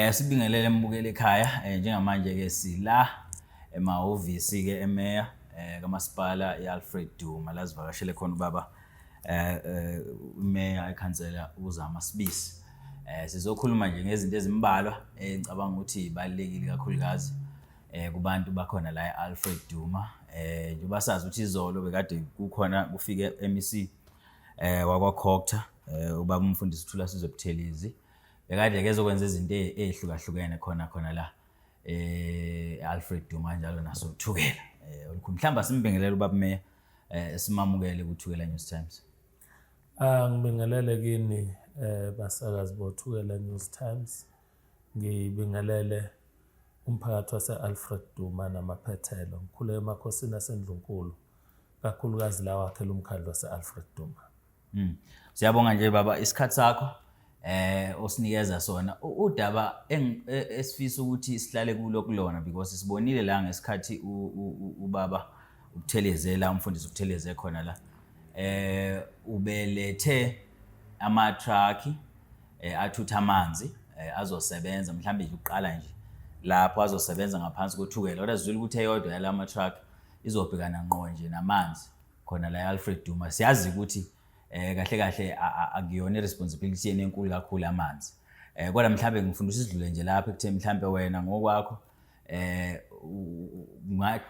Eh sibingelele mbukele ekhaya eh, njengamanje ke sila emahhovisi ke emeya eh kamasipala iAlfred Duma lazivakashele khona ubaba eh, eh umeya ekhansela uzama sibisi eh sizokhuluma nje ngezinto ezimbalwa engicabanga eh, ukuthi ibalekile kakhulukazi eh kubantu bakhona la eAlfred Duma eh njengoba sazi ukuthi izolo bekade kukhona kufike MEC eh wakwa Cocta eh ubaba umfundisi uthula sizwe Buthelezi eh, bekade kezokwenza izinto e-, ezihlukahlukene khona khona la eh Alfred Duma njalo naso Thukela eh olukhulu mhlamba simbingelela ubaba Meya eh simamukele kuthukela News Times ah ngibingelele kini eh basakazi bothukela News Times ngibingelele umphakathi wase-alfred duma namaphethelo ngikhule emakhosini asendlunkulu kakhulukazi lawakhela umkhandlu wase-alfred duma Mm. Siyabonga nje baba isikhathi sakho eh osinikeza sona udaba e, esifisa ukuthi sihlale kulo kulona because sibonile la ngesikhathi ubaba ukuthelezela umfundisi ukutheleze khona la eh ubelethe ama truck eh, athutha amanzi eh, azosebenza mhlawumbe nje uqala nje lapho azosebenza ngaphansi kothukela kodwa sizwile ukuthi eyodwa yalama truck izobhekana ngqo nje namanzi khona la Alfred Duma siyazi ukuthi eh kahle kahle akuyona responsibility yenu enkulu kakhulu amanzi eh kodwa mhlawumbe ngifuna usidlule nje lapha ekuthe mhlawumbe wena ngokwakho eh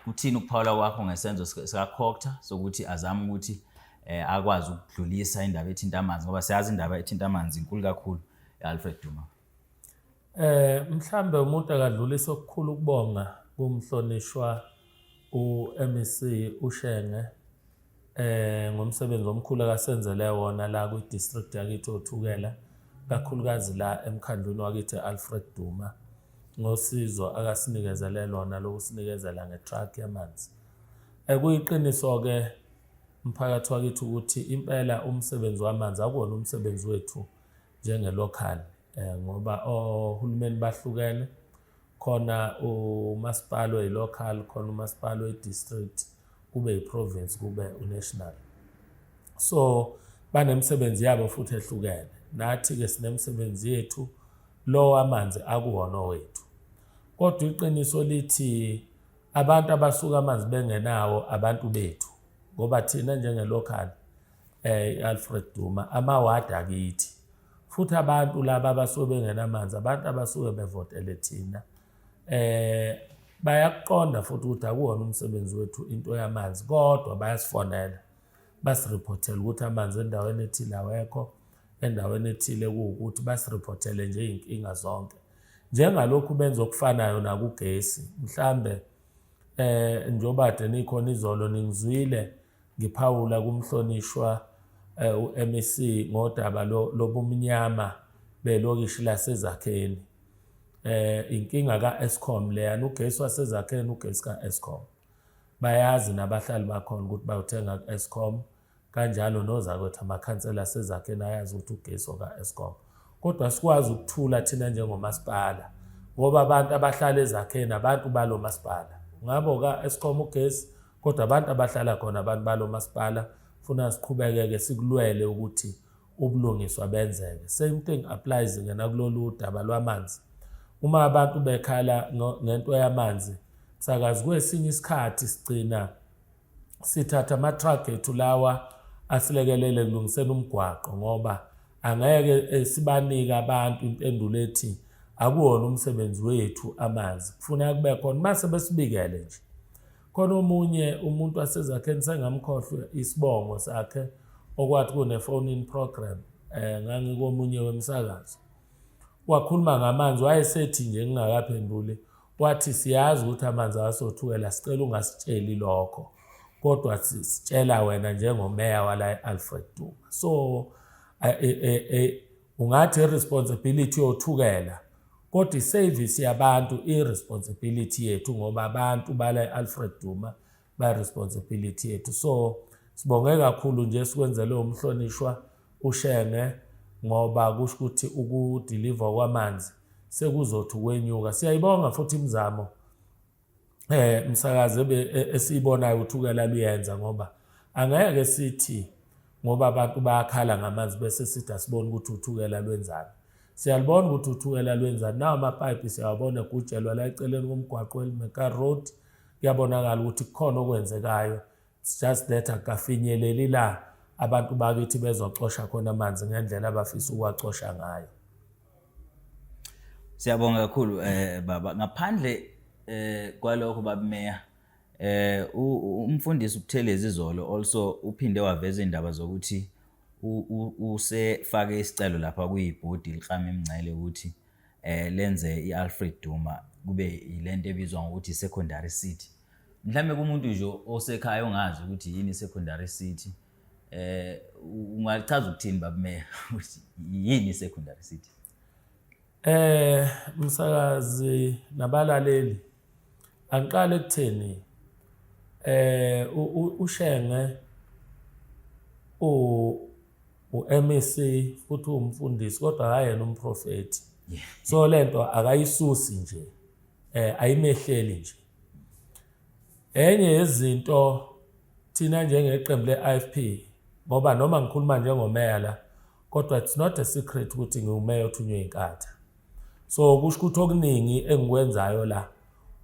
kuthini ukuphawula kwakho ngesenzo sika Cocta sokuthi azama ukuthi eh akwazi ukudlulisa indaba ethinta amanzi ngoba siyazi indaba ethinta amanzi inkulu kakhulu eAlfred Duma Eh mhlambe umuntu akadlulisa okukhulu ukubonga kumhlonishwa uMEC uShenge eh ngomsebenzi omkhulu akasenzele wona la kwi district yakithi othukela kakhulukazi la emkhandlwini wakithi Alfred Duma ngosizo akasinikezele lona lokusinikezela ngetruck yamanzi ekuyiqiniso eh, ke mphakathi wakithi ukuthi impela umsebenzi wamanzi akuwona umsebenzi wethu njenge-local um ngoba ohulumeni bahlukene khona umasipala oyi-local khona umasipala oyi-district kube yi-province kube unational so banemisebenzi yabo futhi ehlukene nathi-ke sinemisebenzi yethu lowo amanzi akuwona owethu kodwa iqiniso lithi abantu abasuka amanzi bengenawo abantu bethu ngoba thina njenge-local Eh Alfred Duma amaward akithi futhi abantu laba abasuke bengenamanzi abantu abasuke bevotele thina eh bayakuqonda futhi ukuthi akuwona umsebenzi wethu into yamanzi kodwa bayasifonela basirephothele ukuthi amanzi endaweni ethile awekho endaweni ethile kuwukuthi basirephothele nje iy'nkinga zonke njengalokhu benza okufanayo nakugesi mhlambe eh njobade nikhona izolo ningizwile Ngiphawula kumhlonishwa eh, u-MEC ngodaba lobumnyama belokishi laseZakheni. Eh inkinga kaEskom leyana ugesi waseZakheni ugesi kaEskom. Bayazi nabahlali bakhona ukuthi bayothenga kuEskom kanjalo nozakwethu amakhansela aseZakheni ayazi ukuthi ugesi okaEskom. Kodwa sikwazi ukuthula thina njengomasipala ngoba abantu abahlala eZakheni abantu balo masipala. Ngabo kaEskom ugesi kodwa abantu abahlala khona abantu balo masipala funa siqhubekeke sikulwele ukuthi ubulungiswa benzeke same thing applies ngena kulolu daba lwamanzi uma abantu bekhala ngento yamanzi sakazi kwesinye isikhathi sigcina sithatha ama-truck ethu lawa asilekelele kulungiseni umgwaqo ngoba angeke eh, sibanike abantu impendulo ethi akuwona umsebenzi wethu amanzi kufuna kube khona uma sebesibikele nje khona omunye umuntu wasezakheni sengamkhohlwa isibongo sakhe okwathi kune-phone in program um ngangikomunye wemsakazo wakhuluma ngamanzi wayesethi nje ngingakaphenduli wathi siyazi ukuthi amanzi awasothukela sicela ungasitsheli lokho kodwa sitshela wena njengomeya wala e-alfred duma so e, e, Ungathi responsibility yothukela kodwa iservice yabantu iresponsibility yethu ngoba abantu bala eAlfred Duma ba responsibility yethu so sibonge kakhulu nje sikwenzele umhlonishwa ushenge ngoba kusho ukuthi ukudeliver kwamanzi sekuzothi ukwenyuka siyayibonga futhi imizamo eh msakazi ebe e, esiyibonayo ukuthi ukela luyenza ngoba angeke sithi ngoba abantu bayakhala ngamanzi bese sithi asibone ukuthi uthukela lwenzani siyalibona ukuthi uthukela lwenzani nawo amapayipi siyawabona egutshelwa la eceleni komgwaqo elimeka road kuyabonakala ukuthi kukhona okwenzekayo It's just that akafinyeleli la abantu bakithi bezocosha khona amanzi ngendlela abafisa ukuwacosha ngayo. Siyabonga kakhulu eh baba ngaphandle eh kwalokho babumeya eh umfundisi uButhelezi izolo also uphinde waveza indaba zokuthi usefake isicelo lapha kuyibhodi liklama imingcele ukuthi eh lenze iAlfred Duma kube yilento ebizwa ngokuthi secondary city mhlawumbe kumuntu nje osekhaya ongazi ukuthi yini i-secondary city eh ungachaza ukuthini babumeya ukuthi yini i-secondary city eh msakazi nabalaleli angiqale kutheni eh ushenge u uMEC futhi umfundisi kodwa akayena umprofeti so lento akayisusi nje eh ayimehleli nje Enye yezinto thina njengeqembu le-IFP ngoba noma ngikhuluma njengomeya la kodwa it's not a secret ukuthi ngiwumeya othunywe inkatha so kusho ukuthi okuningi engikwenzayo la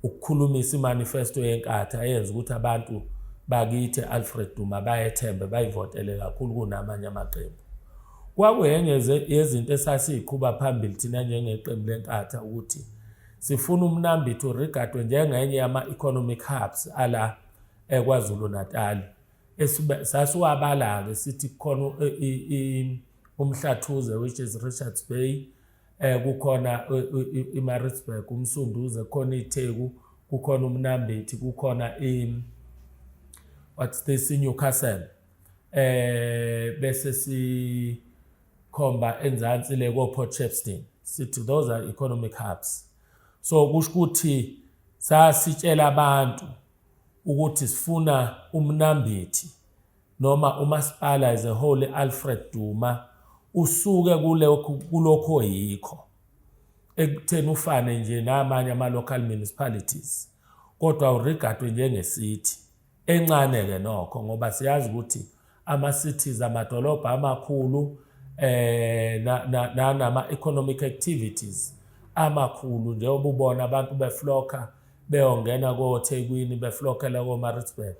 ukukhulumisa imanifesto yenkatha eyenza ukuthi abantu bakithi Alfred Duma bayethembe bayivotele kakhulu kunamanye amaqembu kwakuyenye yezinto esasiyiqhuba phambili thina njengeqembu lenkatha ukuthi Sifuna uMnambithi urigadwe njengenye yama-economic hubs ala eKwaZulu-Natal. Sasiwabala-ke sithi kukhona uMhlathuze which is Richards Bay, eh, kukhona iMaritzburg, uMsunduze, kukhona iTheku, kukhona uMnambithi, kukhona i what's this iNewcastle. Eh bese si khomba enzansi le koport shepston sithi those are economic hubs so kusho ukuthi sasitshela abantu ukuthi sifuna umnambithi noma umasipala as a whole alfred duma usuke kulokhu oyikho ekutheni ufane nje namanye ama-local municipalities kodwa uregadwe njengesithi encane ke nokho ngoba siyazi ukuthi ama cities amadolobha amakhulu eh nanama economic activities amakhulu njengoba ubona abantu befloka beyongena koThekwini beflokela koMaritzburg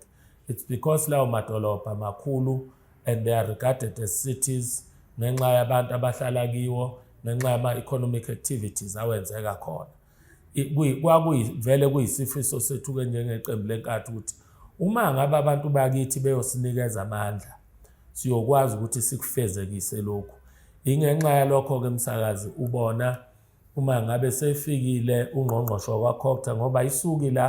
it's because lawo madolobha makhulu and they are regarded as cities ngenxa yabantu abahlala kiwo ngenxa yama economic activities awenzeka khona kwakuyivele kuyisifiso sethu-ke njengeqembu lenkathi ukuthi uma ngabe abantu bakithi beyosinikeza amandla siyokwazi ukuthi sikufezekise lokhu ingenxa yalokho-ke msakazi ubona uma ngabe sefikile ungqongqoshe wakwakhokta ngoba isuki la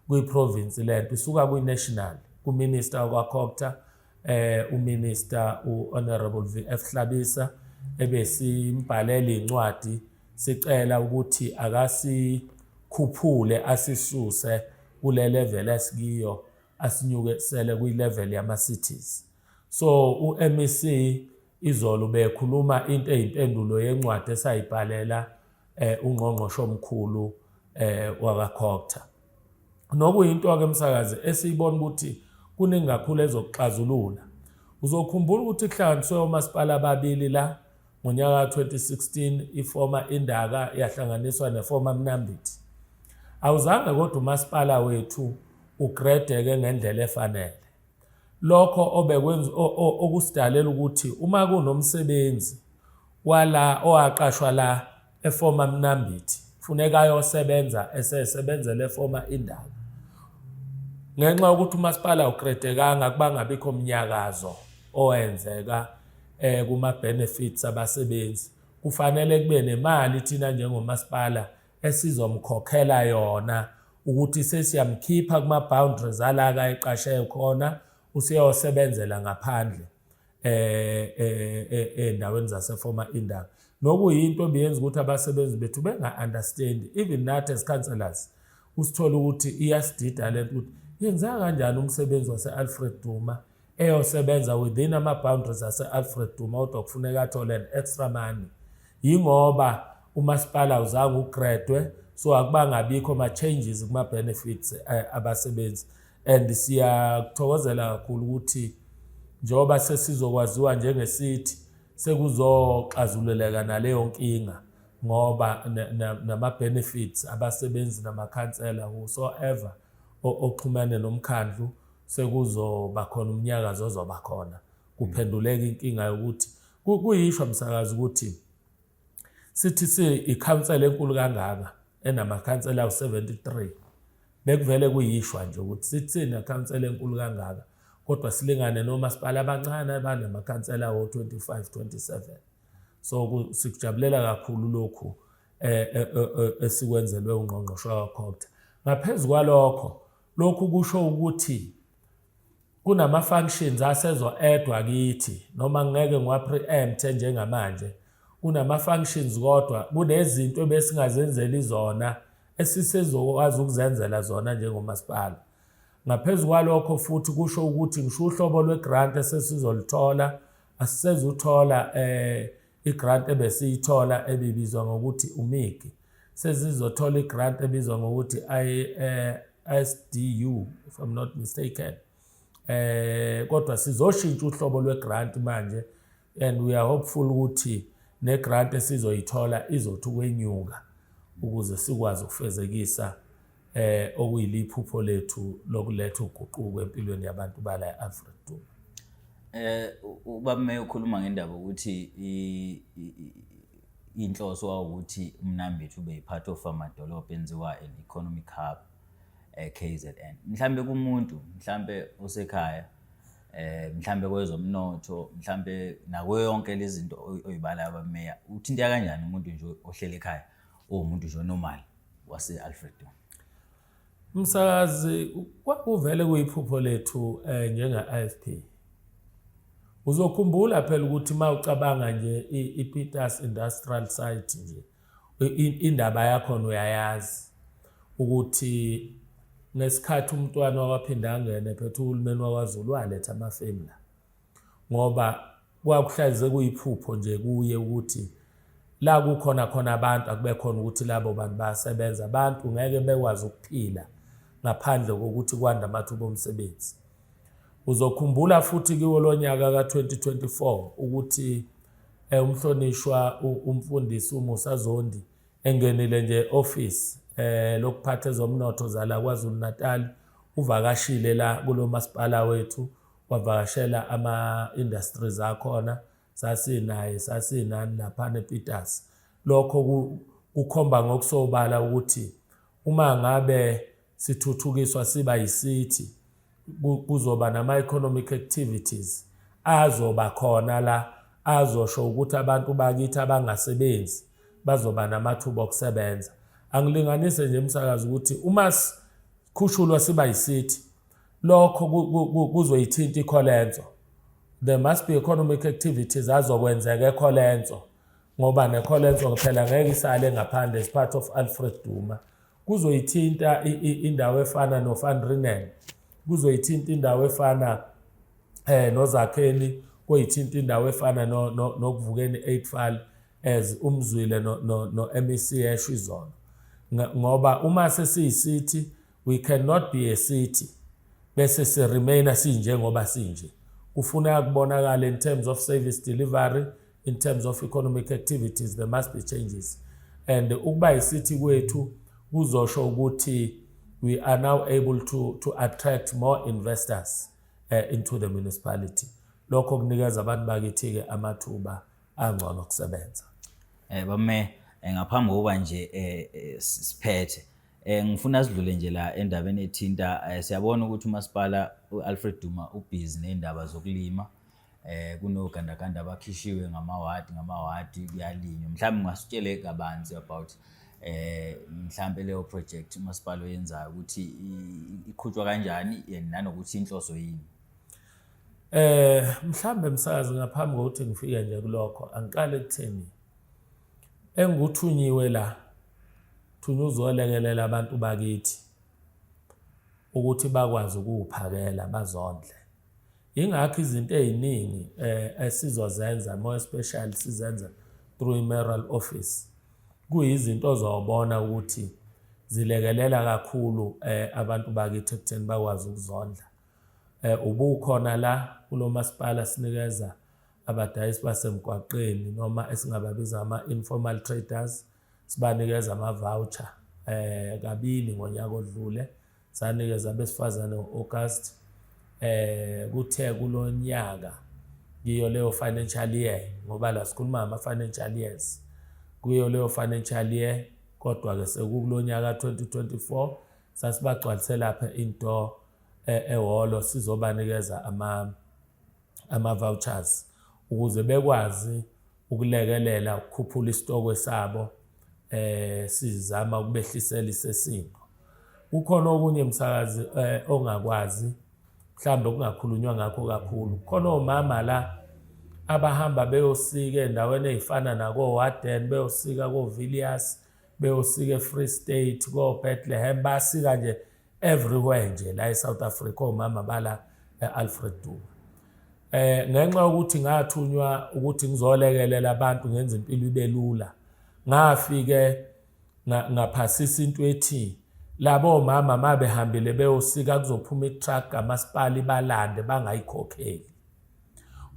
kwiprovinsi lento isuka kwi-national kuminister wakwakhokta eh uMinister uHonorable VF Hlabisa ebesimbhalela incwadi sicela ukuthi akasikhuphule asisuse kule level esikiyo asinyukesele kwi level yama cities so uMEC izolo bekhuluma into eyimpendulo yencwadi esayibhalela eh ungqongqoshe omkhulu eh wakaCogta nokuyinto ke msakazi esiyibona ukuthi kuningi kakhulu ezokuxazulula uzokhumbula ukuthi kuhlanganiswe omasipala ababili la ngonyaka 2016 ifoma indaka yahlanganiswa nefoma mnambithi awuzange kodwa umasipala wethu ugredeke ngendlela efanele lokho obekwenza okusidalela ukuthi uma kunomsebenzi wala owaqashwa la efoma mnambithi funeka ayosebenza esesebenzela efoma indawo ngenxa yokuthi umasipala ukredekanga kubangabikho mnyakazo owenzeka eh kuma benefits abasebenzi kufanele kube nemali thina njengomasipala esizomkhokhela yona ukuthi sesiyamkhipha kuma boundaries ala ka eqashe khona useyosebenzela ngaphandle eh, eh, eh, eh endaweni zase former indawo nokuyinto ebiyenza ukuthi abasebenzi bethu benga understand even nathi as councillors usithola ukuthi iyasidida lento ukuthi yenzeka kanjani umsebenzi wase Alfred Duma eyosebenza within ama-boundaries ase-alfred duma kodwa kufuneka athole ne-extra money yingoba umasipala awuzange ugradwe so akubangabikho ama-changes kuma-benefits eh, abasebenzi and siyakuthokozela kakhulu ukuthi njengoba sesizokwaziwa njengesithi sekuzoxazululeka naleyo nkinga ngoba nama-benefits abasebenzi namakhansela whosoever oxhumene nomkhandlu sekuzoba khona umnyakazo ozoba khona kuphenduleka inkinga yokuthi kuyishwa msakazi ukuthi sithi si ikhansela enkulu kangaka enamakhansela awu-73 bekuvele kuyishwa nje ukuthi sithini ikhansela enkulu kangaka kodwa silingane nomasipala abancane abanamakhansela wo-25 27 so sikujabulela kakhulu lokhu eh, eh, eh, esikwenzelwe ungqongqoshe wakhokta ngaphezu kwalokho Lokhu kusho ukuthi kunama-functions asezo-edwa kithi noma ngeke ngiwa-preempte njengamanje kunama-functions kodwa kunezinto ebesingazenzeli zona esisezokwazi ukuzenzela zona njengomasipala ngaphezu kwalokho futhi kusho ukuthi ngisho uhlobo lwe-grant esesizolithola asisezuthola um eh, I-grant ebesiyithola ebibizwa ngokuthi uMIGI sezizothola i-grant ebizwa ngokuthi i-SDU eh, if I'm not mistaken eh kodwa sizoshintsha uhlobo lwe-grant manje and we are hopeful ukuthi ne-grant esizoyithola izothi ukwenyuka ukuze sikwazi ukufezekisa eh okuyiliphupho lethu lokuletha uguquko empilweni yabantu bala eAfrika Duma eh ubaba meyo ukhuluma ngendaba ukuthi inhloso wawukuthi umnambithu ube yipart of amadolobha enziwa an economic hub eh KZN mhlambe kumuntu mhlambe osekhaya eh mhlambe kwezomnotho mhlambe nakuyo yonke lezi zinto oyibala abameya uthinta kanjani umuntu nje ohlele ekhaya uwumuntu nje onormal wase-alfredton msakazi kwakuvele kuyiphupho lethu um eh, njenga-ifp uzokhumbula phela ukuthi uma ucabanga nje i-peters industrial site nje indaba yakhona uyayazi ukuthi ngesikhathi umntwana wawaphinde angene phethe uhulumeni wakwazulu waletha amafemu la ngoba kwakuhlalize kuyiphupho nje kuye ukuthi la kukhona khona abantu akube khona ukuthi labo bantu bayasebenza abantu ngeke bekwazi ukuphila ngaphandle kokuthi kwanda amathuba omsebenzi uzokhumbula futhi kiwo lo nyaka ka-2024 ukuthi eh, umhlonishwa umfundisi umusa zondi engenile nje office eh lokuphatha ezomnotho zala KwaZulu-Natal uvakashile la kulo masipala wethu wavakashela ama-industries akhona sasinaye sasinani laphana ePiters lokho kukhomba ngokusobala ukuthi uma ngabe sithuthukiswa siba yisithi kuzoba nama-economic activities azoba khona la azosho ukuthi abantu bakithi abangasebenzi bazoba namathuba okusebenza angilinganise nje umsakazi ukuthi uma sikhushulwa siba yisithi Lokho kuzoyithinta iColenso. There must be economic activities azokwenzeka eColenso ngoba neColenso phela ngeke isale ngaphandle as part of Alfred Duma. Kuzoyithinta indawo efana noVan Renen. Kuzoyithinta indawo efana eh nozakheni koyithinta indawo efana nokuvukeni eightfall as umzwile no-mec esho izona ngoba uma sesiyisithi we cannot be a city bese si remainer sinjengoba sinje kufuneka kubonakala in terms of service delivery in terms of economic activities there must be changes and ukuba isithi kwethu kuzosho ukuthi we are now able to, to attract more investors uh, into the municipality lokho kunikeza abantu bakithi-ke amathuba angcono okusebenza um eh, bame eh, ngaphambi kokuba nje um siphethe Eh ngifuna sidlule nje la endabeni ethinta eh, siyabona ukuthi umasipala uAlfred Duma ubhizi nezindaba zokulima eh kunogandaganda abakhishiwe ngamawadi ngamawadi kuyalinywa mhlawumbe ungasitshele kabanzi about eh mhlawumbe leyo project umasipala oyenzayo ukuthi iqhutshwa kanjani nanokuthi inhloso yini Eh mhlambe msazi ngaphambi kokuthi ngifike nje kulokho angiqale kutheni Engikuthunyiwe la, thunywa uzolekelela abantu bakithi ukuthi bakwazi ukuwuphakela bazondle. Ingakho izinto eziningi eh esizozenza more special sizenza through i-mayoral office. Kuyizinto ozobona ukuthi zilekelela kakhulu eh abantu bakithi ekutheni bakwazi ukuzondla. Eh ubukhona la kulo masipala sinikeza abadayisi basemgwaqeni noma esingababiza ama-informal traders sibanikeza ama-voucher eh kabili ngonyaka odlule sanikeza abesifazane ngo-August eh kuthe kulonyaka ngiyo leyo financial year ngoba la sikhuluma ama financial years kuyo leyo financial year kodwa ke sekukulonyaka 2024 sasibagcwalise lapha into eh, ehholo sizobanikeza ama ama-vouchers ukuze bekwazi ukulekelela ukukhuphula isitokwe sabo eh sizama ukubehlisela isesimo kukhona okunye msakazi eh, ongakwazi mhlambe kungakhulunywa ngakho kakhulu khona omama la abahamba beyosika endaweni ezifana nako Warden beyosika ko Villiers beyosika eFree State ko Bethlehem basika nje everywhere nje la eSouth Africa omama bala eAlfred Duma eh ngenxa yokuthi ngathunywa ukuthi ngizolekelela abantu ngenze impilo ibe lula ngafike ngaphasisa into ethi labo mama mabehambile beyosika kuzophuma itruck kamasipala ibalande bangayikhokheli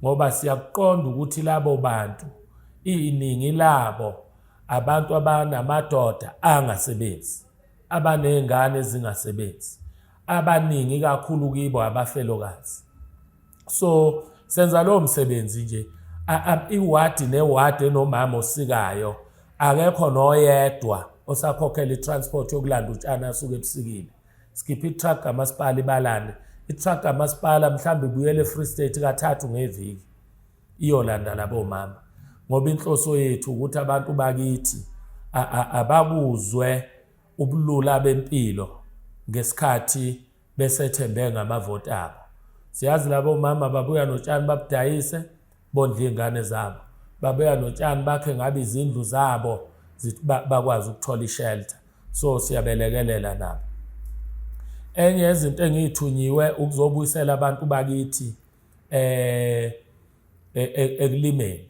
ngoba siyakuqonda ukuthi labo bantu iningi labo abantu abanamadoda angasebenzi abanezingane ezingasebenzi abaningi kakhulu kibo abafelokazi so senza lowo msebenzi nje iwadi newadi enomama osikayo akekho noyedwa osakhokhela i-transport yokulanda utshani asuke ebusikile sikhiphe i-truck kamasipala ibalane i-truck kamasipala mhlawumbe ibuyele e-free state kathathu ngeviki iyolanda labo mama ngoba inhloso yethu ukuthi abantu bakithi abakuzwe ubulula bempilo ngesikhathi besethembe ngamavoti abo siyazi labo mama babuya notshani babudayise bondle iy'ngane zabo babuya notshani bakhe ngabe izindlu zabo bakwazi ukuthola ishelter so siyabelekelela nabo enye yezinto engiyithunyiwe ukuzobuyisela abantu bakithi eh e, e, ekulimeni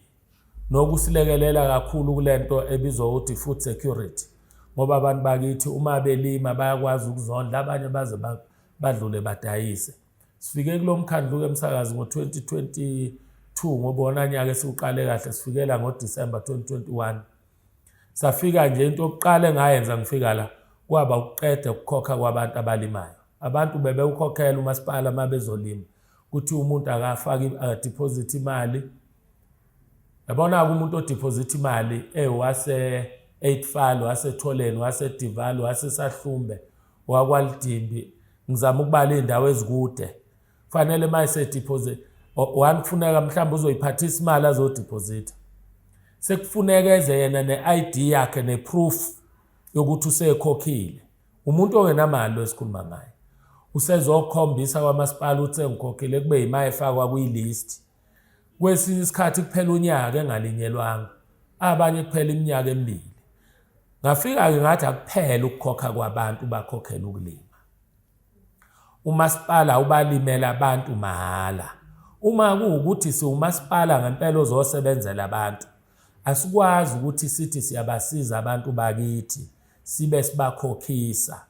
nokusilekelela kakhulu kulento ebizwa ukuthi food security ngoba abantu bakithi uma belima bayakwazi ukuzondla abanye baze badlule badayise sifike kulomkhandlu ke msakazi ngo2022 ngobona nyaka esiwuqale kahle sifikela ngoDecember 2021 Safika nje into yokuqala engayenza ngifika la kwaba ukuqeda ukukhokha kwabantu abalimayo. Abantu bebewukhokhela umasipala uma bezolima ukuthi umuntu akafake deposit imali yabona-ke umuntu odiphozitha imali ewase-eightfal wasetholeni wasedival wasesahlumbe wakwalidimbi ngizama ukubala iy'ndawo ezikude fanele uma esedeposit one kufuneka mhlawumbe uzoyiphathisa imali azodiphozitha sekufuneka eze yena ne-id yakhe neproof yokuthi usekhokhile umuntu ongenamali lo esikhuluma ngaye usezokhombisa kwamasipala ukuthi engikhokhile kube yima efakwa kwi-list kwesinye isikhathi kuphela unyaka engalinyelwanga abanye kuphela iminyaka emibili ngafika-ke ngathi akuphele ukukhokha kwabantu bakhokhela ukulima Umasipala ubalimela abantu mahhala. Uma kuwukuthi siwumasipala ngempela ozosebenzela abantu, asikwazi ukuthi sithi siyabasiza abantu bakithi sibe sibakhokhisa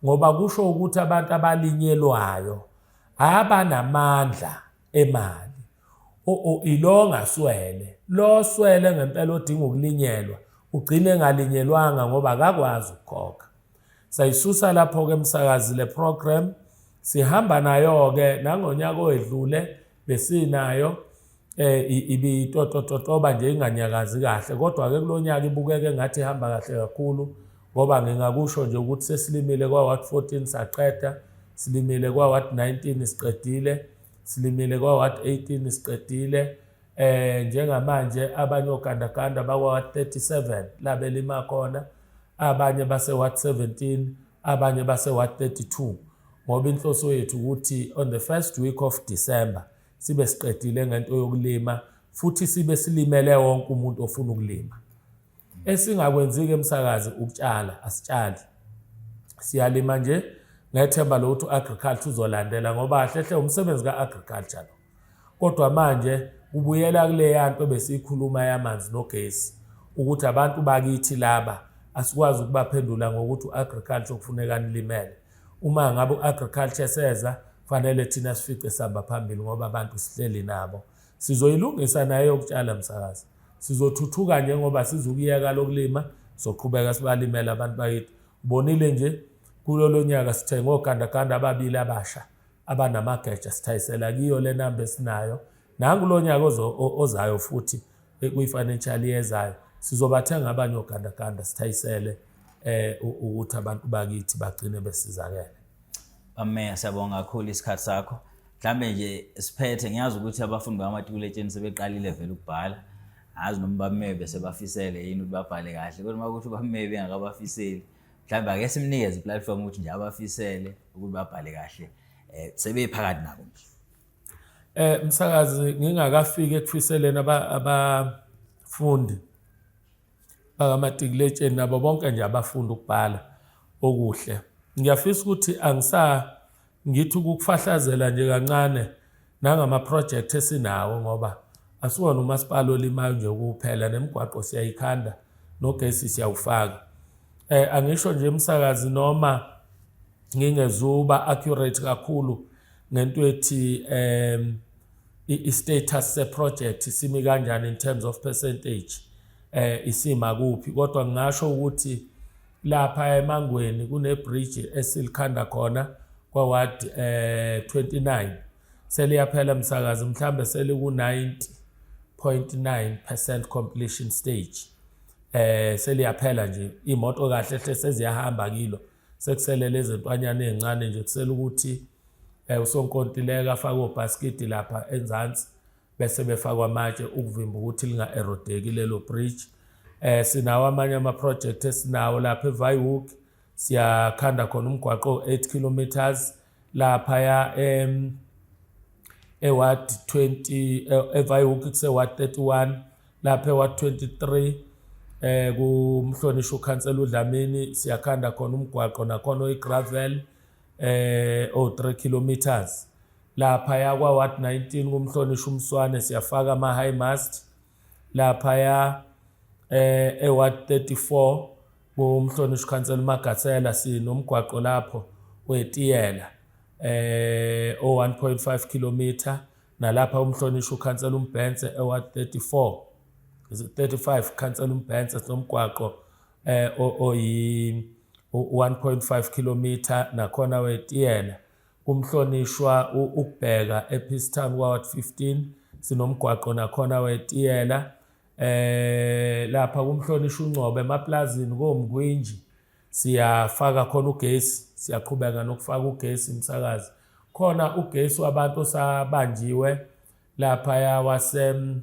ngoba kusho ukuthi abantu abalinyelwayo abanamandla emali ilo ngaswele lo swele ngempela odinga ukulinyelwa ugcine engalinyelwanga ngoba akakwazi ukukhokha Sayisusa lapho-ke msakazi le program sihamba nayo-ke nangonyaka owedlule besinayo eh ibitotototoba nje inganyakazi kahle kodwa ke kulonyaka ibukeke ngathi ihamba kahle kakhulu ngoba ngingakusho nje ukuthi sesilimile kwa wat 14 saqeda silimile kwa wat 19 siqedile silimile kwa wat 18 siqedile eh njengamanje abanye ogandaganda bakwa wat 37 labelima khona abanye base-ward 17 abanye base-ward 32 ngoba inhloso yethu ukuthi on the first week of December sibe siqedile ngento yokulima futhi sibe silimele wonke umuntu ofuna ukulima esingakwenzi-ke emsakazi ukutshala asitshali siyalima nje ngethemba lokuthi u-agriculture uzolandela ngoba hlehle umsebenzi ka-agriculture lo Kodwa manje kubuyela kuleya nto besiyikhuluma yamanzi nogesi ukuthi abantu bakithi laba asikwazi ukubaphendula ngokuthi u-agriculture kufuneka nilimele uma ngabe u-agriculture seza fanele thina sifice sihamba phambili ngoba abantu sihleli nabo sizoyilungisa naye yokutshala msakazi sizothuthuka njengoba sizukuyeka lokulima soqhubeka sibalimela abantu bakithi ubonile nje kulolo nyaka sithenge ogandaganda ababili abasha abanamageja sithayisela kiyo le namba esinayo nangu lo nyaka ozayo futhi eh, kwi-financial yezayo sizobathenga abanye ogandaganda sithayisele um ukuthi abantu bakithi bagcine besizakele ameya siyabonga kakhulu isikhathi sakho mhlawumbe nje siphethe ngiyazi ukuthi abafundi bamatikuletsheni sebeqalile vele ukubhala azi noma bamebe sebafisele yini ukuthi babhale kahle kodwa uma ukuthi ubamebe engakabafiseli mhlawumbe ake simnikeze iplatform ukuthi nje abafisele ukuthi babhale kahle um sebephakathi nabo nje Eh msakazi ngingakafiki ekufiseleni abafundi bakamatikiletsheni nabo bonke nje abafunda ukubhala okuhle ngiyafisa ukuthi angisa Ngithi ukukufahlazela nje kancane nangamaprojekthi esinawo ngoba asiwona umasipala olimayo nje kuphela nemigwaqo siyayikhanda nogesi siyawufaka eh angisho nje umsakazi noma ngingezuba accurate kakhulu ngento ethi um i-status se-project simi kanjani in terms of percentage eh isima kuphi kodwa ngingasho ukuthi lapha emangweni kunebridge esilikhanda khona kwaward eh 29 seliyaphela msakazi mhlambe seliku 90.9% completion stage eh seliyaphela nje imoto kahle hle seziyahamba kilo sekusele lezi ntwanyana ezincane nje kusela ukuthi eh usonkontileka afake obhaskidi lapha enzansi bese befakwa amatshe ukuvimba ukuthi linga-erodeki lelo bridge eh sinawo amanye ama-project esinawo lapha evihook siyakhanda khona umgwaqo o-8 kilometers laphaya em eward 20 evihook kuseward 31 lapha eward 23 eh kumhlonishwa ukhansela udlamini siyakhanda khona umgwaqo nakhona oyigravel eh o 3 kilometers lapha ya kwa ward 19 kumhlonishwa umswane siyafaka ama high mast lapha ya eh e ward 34 kumhlonishwa council magatsela sinomgwaqo lapho wetiyela eh o 1.5 kilometer nalapha umhlonishwa ukhansela umbhense eward 34 35 khansela umbhense sinomgwaqo eh oyi 1.5 kilometer nakhona wetiyela umhlonishwa ukubheka ePeacetown Ward 15 sinomgwaqo nakhona wetiyela eh lapha kumhlonisha uNcobe emaplazini komgwinji siyafaka khona ugesi siyaqhubeka nokufaka ugesi umsakazi khona ugesi wabantu osabanjiwe lapha ya wasem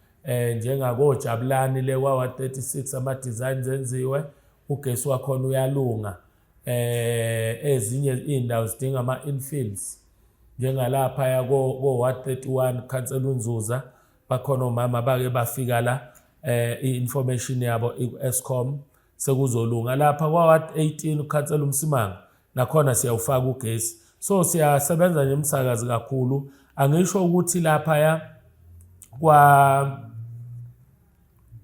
eh njengakojabulani le wawa 36 ama designs enziwe ugesi wakhona uyalunga eh ezinye indawo zidinga ama infills njengalapha ya ko ko 131 cancel unzuza bakhona omama bake bafika la eh i information yabo iku Escom sekuzolunga lapha kwaward 18 ukhansela umsimanga nakhona siyawufaka ugesi so siyasebenza nje emsakazi kakhulu angisho ukuthi lapha ya kwa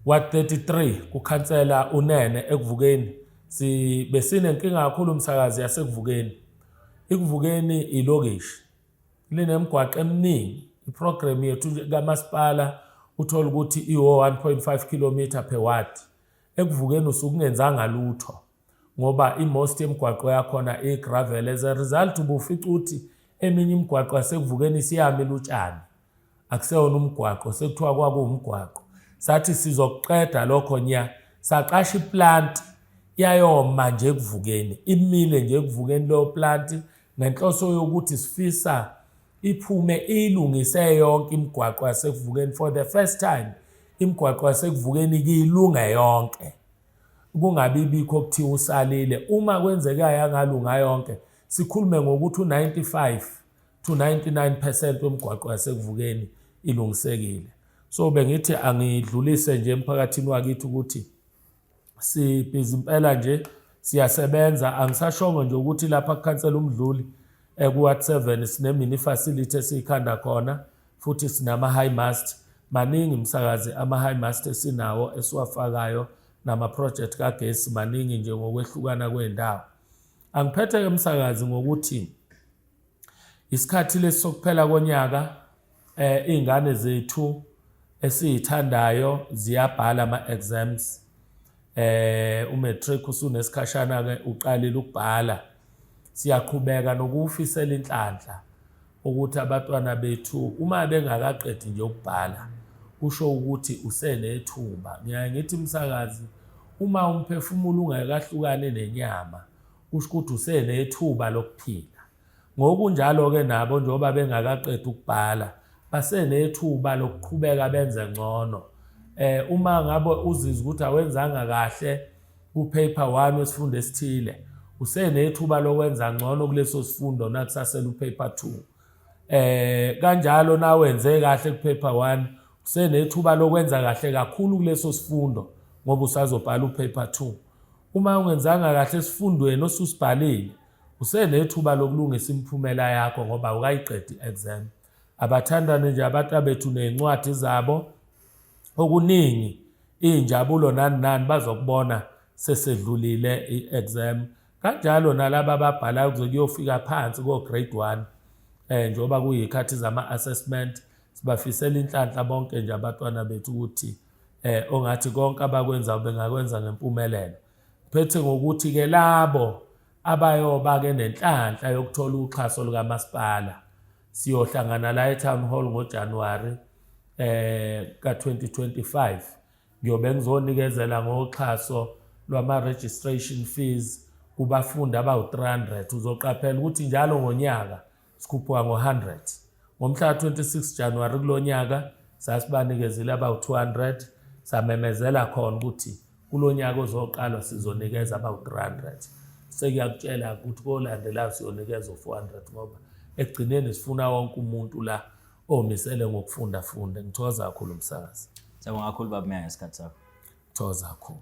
wa 33 kukhansela unene ekuvukeni si besinenkinga kakhulu umsakazi yasekuvukeni ikuvukeni ilokishi linemgwaqo eminingi iprogram yethu kamasipala uthola ukuthi iwo 1.5 km per watt ekuvukeni usukungenzanga lutho ngoba imost yemgwaqo yakhona igravel as a result ubufica ukuthi eminye imigwaqo yasekuvukeni siyami lutshani akuseyona umgwaqo sekuthiwa kwakuwumgwaqo sathi sizokuqeda lokho nya saqasha iplanti yayoma nje ekuvukeni imile nje ekuvukeni leyo planti ngenhloso yokuthi sifisa iphume iyilungise yonke imigwaqo yasekuvukeni for the first time imigwaqo yasekuvukeni kiyilunga yonke kungabi bikho kuthiwa usalile uma kwenzeka yangalunga yonke sikhulume ngokuthi u-95 to 99 percent wemigwaqo yasekuvukeni ilungisekile so bengithi angidlulise nje emphakathini wakithi ukuthi sibhizi impela nje siyasebenza angisashongo nje ukuthi lapha kukhansela umdluli ekuward 7 sinemini facility esiyikhanda khona futhi sinama high mast maningi msakazi ama high mast esinawo esiwafakayo nama project kagesi maningi nje ngokwehlukana kwendawo angiphethe ke msakazi ngokuthi Isikhathi lesi sokuphela konyaka eh izingane zethu esizithandayo ziyabhala ama exams eh umatric usunesikhashana ke uqalile ukubhala siyaqhubeka nokufisela inhlanhla ukuthi abatwana bethu uma bengakaqedi nje ukubhala kusho ukuthi usenethumba ngiyaye ngithi umsakazi uma umphefumulo ungakahlukane nenyama kusho ukuthi usenethuba lokuphila. Ngokunjalo-ke nabo njengoba bengakaqedi ukubhala basenethuba lokuqhubeka benze ngcono eh uma ngabe uzizwa ukuthi awenzanga kahle ku paper 1 wesifundo esithile usenethuba lokwenza ngcono kuleso sifundo nakusasela u paper 2 eh kanjalo nawenze kahle ku paper 1 usenethuba lokwenza kahle kakhulu kuleso sifundo ngoba usazobhala u paper 2 Uma ungenzanga kahle esifundweni osusibhalile, usenethuba lokulungisa imiphumela yakho ngoba awukayiqedi i-exam. Abathandane nje abatabethu ney'ncwadi zabo okuningi iy'njabulo nani nani bazokubona sesedlulile i-exam. Kanjalo nalaba ababhalayo kuze kuyofika phansi ko-grade one um njengoba kuyikhathi zama-assessment sibafisela inhlanhla bonke nje abatwana bethu ukuthi eh ongathi konke abakwenza bengakwenza ngempumelelo phethe ngokuthi ke labo abayoba ke nenhlanhla yokuthola uxhaso lukamasipala siyohlangana la eTown Hall ngoJanuary eh ka2025 ngiyobe ngizonikezela ngoxhaso lwama registration fees kubafundi abawu300 uzoqaphela ukuthi njalo ngonyaka Sikhuphuka ngo-100. Ngomhla ka-26 Januwari kulo nyaka sasibanikezile abawu-200 samemezela khona ukuthi kulo nyaka ozoqalwa sizonikeza abawu-300. Sekuyakutshela ukuthi kolandelayo siyonikeza u-400 ngoba ekugcineni sifuna wonke umuntu la omisele ngokufunda funde. Ngithokoza kakhulu umsakazi. Siyabonga kakhulu baba Meya ngesikhathi sakho. Ngithokoza kakhulu.